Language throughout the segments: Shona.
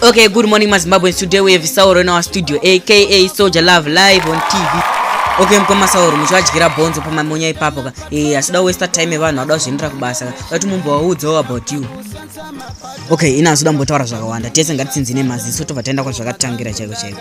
Okay, good morning, my Zimbabweans. Today we have Sauro in our studio, aka Soldier Love, live on TV. Okay, mkoma Sauro, muchivadyira bhonzo pamamonya ipapo ka. Eh, asida waste time yevanhu ada kuzviendera kubasa ka. Vati mumbovaudzawo about you. Okay, ina azoda mbotaura zvakawanda. Tese ngatitsinzine maziso tobva taenda kwazvakatangira chaiko chaiko.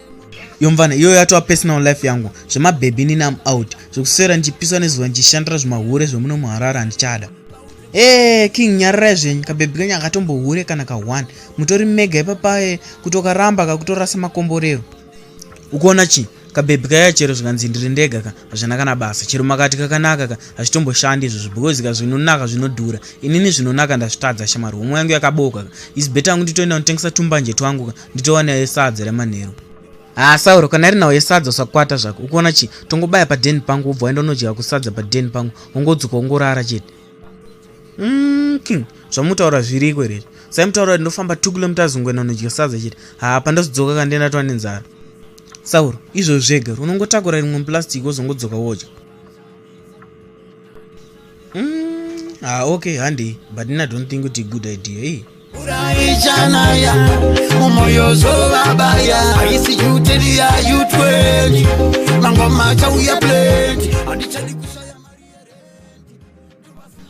yomvana iyoyo yatova personal life yangu zvemabhebhi nini am out zvekuswera ndichipiswa nezuva ndichishandira zvimahure zvemuno muharare handichada ee eh, king nyararai zvenyu kabhebhi kenyu akatombohure kana ka one mutori mega ipapaye kutokaramba kakutorasa makomborero ukuona chii kabhebhi kaya chero zvikanzi ndiri ndega ka hazvina kana basa chero makati kakanaka ka hazvitomboshandi izvozvo because ka zvinonaka zvinodhura inini zvinonaka ndazvitadza shamari homwe yangu yakabooka ka is better yangu nditoenda kunditengesa tumbanje twangu ka nditowana yesadza remanheru haa ah, sauro kana iri nhau yesadza usakwata zvako ukuona chii tongobaya padeni pangu wobva waenda unodya kusadza padeni pangu wongodzoka wongorara chete Mm, king zvamutaura zviriko here sai mutaura kuti ndofamba two kilometers ungwena unodya sadza chete haa pandazodzoka ka ndienda tova nenzara sauro izvo zvega unongotakura rimwe muplastic wozongodzoka wodya mm, haa okay handei but ina don't think kuti good idea ii uraichanaya umoyo zovabaya aisi yuteni ya yutweni mangoma chauya pleti andichadi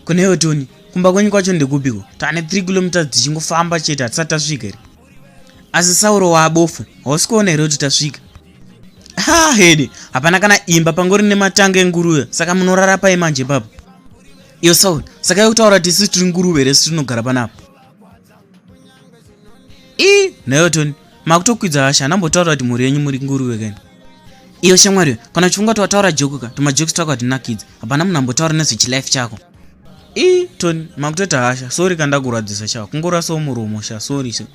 kunewo toni kumba kwenyu kwacho ndekupiko tane 3 kilometers tichingofamba chete hatisati tasvika here asi sauro waabofu hausi kuona here kuti tasvika ha hede hapana kana imba pangori nematanga enguruve saka munorara pai manje ipapo iyo sauro saka yekutaura tisi tiri nguruve resi tinogara panapa i nayotoni makutokwidza hasha anambotaura kuti mhuri yenyu muri nguruve kani iyo shamwari kana chifunga kuti wataura joku ka tumajoks twako hatinakidzi hapana munhu ambotaura nezvechilife chako i toni makutoita hasha sori kandakurwadzisa sha kungorasawo muromo sha sori se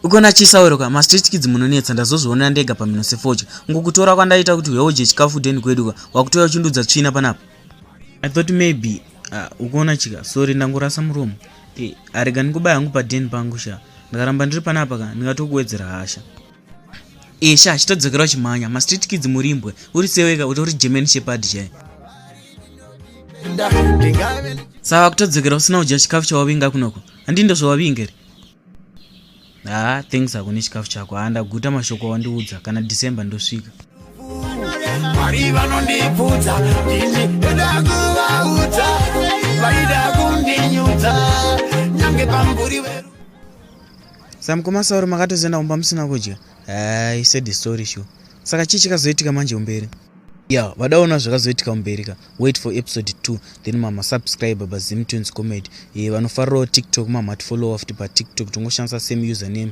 ukona chisauro ka mastreet kids munonetsa ndazozvionera ndega pamhino sefocha ngokutora kwandaita kuti uyaudye chikafu deni kwedu ka wakutouya uchindudza tsvina panapa i thought maybe uh, ukona chika sori ndangorasa muromo Hey, arega ndikuba yangu paden pangu sha ndakaramba ndiri panapa ka ndingatokuwedzera hasha esha chitodzokera uchimhanya mastreet kids murimbwe uri seweka utori german shepard chai sava kutodzokera usina kudya chikafu chawavinga kunoko handii ndozvawavinga here Haa thanks hako nechikafu chako. Haa ndaguta mashoko awandiudza kana December ndosvika. Mwari vanondipfudza ini ndoda kuvaudza vaida kundinyudza nyange pamburi weru. Samukoma Sauro makatozoenda kumba musina kudya? Haa he said the story sure. Saka chii chikazoitika manje kumberi? ya vadaona zvakazoitika kumberi ka wait for episode 2 then mama subscribe ba zim tunes comedy e eh, vanofarirawo tiktok mama tifollowa futi patiktok tongoshandisa same username